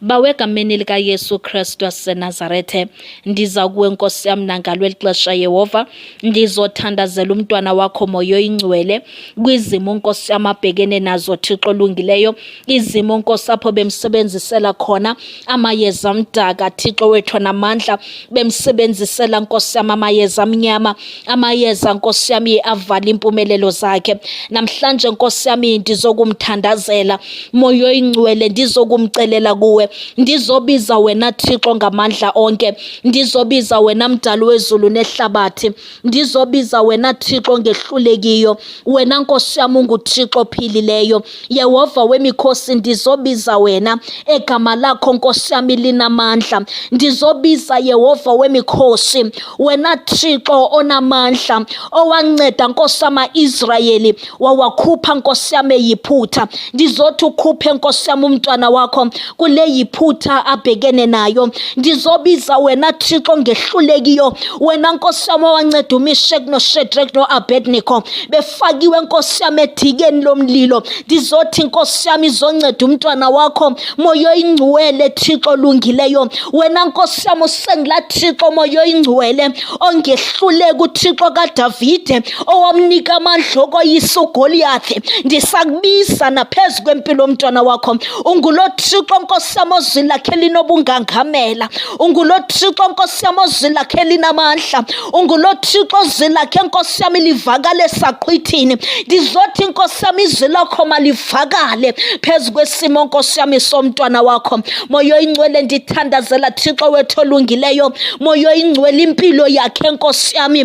Bawe egameni likaYesu Kristu waseNazarethe, ndiza kuwe Nkosi yam nangalo eli xesha Yehova, ndizothandazela umntwana wakho moya oyingcwele kwizimo Nkosi yam abhekene nazo Thixo olungileyo, izimo Nkosi apho bemsebenzisela khona amayeza amdaka Thixo wethu namandla, bemsebenzisela Nkosi yam amayeza amnyama amayeza nkosi yami avala impumelelo zakhe namhlanje nkosi yami ndizokumthandazela moya oyingcwele ndizokumcelela kuwe ndizobiza wena thixo ngamandla onke ndizobiza wena mdali wezulu nehlabathi ndizobiza wena thixo ngehlulekiyo wena nkosi yam unguthixo ophilileyo Yehova wemikhosi ndizobiza wena egama lakho nkosi yami linamandla ndizobiza Yehova wemikhosi wena Thixo onamandla owanceda nkosi yama Israyeli wawakhupha nkosi yami yiphutha ndizothi ukhuphe nkosi yami umntwana wakho kule yiphutha abhekene nayo ndizobiza wena thixo ngehlulekiyo wena nkosi yam owanceda umishek noshedrek noabednico befakiwe nkosi yam edikeni lomlilo ndizothi nkosi yam izonceda umntwana wakho moyo ingcwele thixo olungileyo wena nkosi yam usengila thixo moyo ingcwele ongehluleki uthixo kadavide owamnika amandla okoyisa ugoliyathi ndisakubiza naphezu kwempilo mntwana wakho ungulo thixo nkosi yam ozwi lakhe linobungangamela ungulo thixo nkosi yam ozwi lakhe linamandla ungulo thixo ozwi lakhe nkosi yam livakale esaqhwithini ndizothi nkosi yam izwi lakho malivakale phezu kwesimo nkosi yam isomntwana wakho moyo ingcwele ndithandazela thixo wethu olungileyo moyo ingcwele impilo yakhe nkosi yami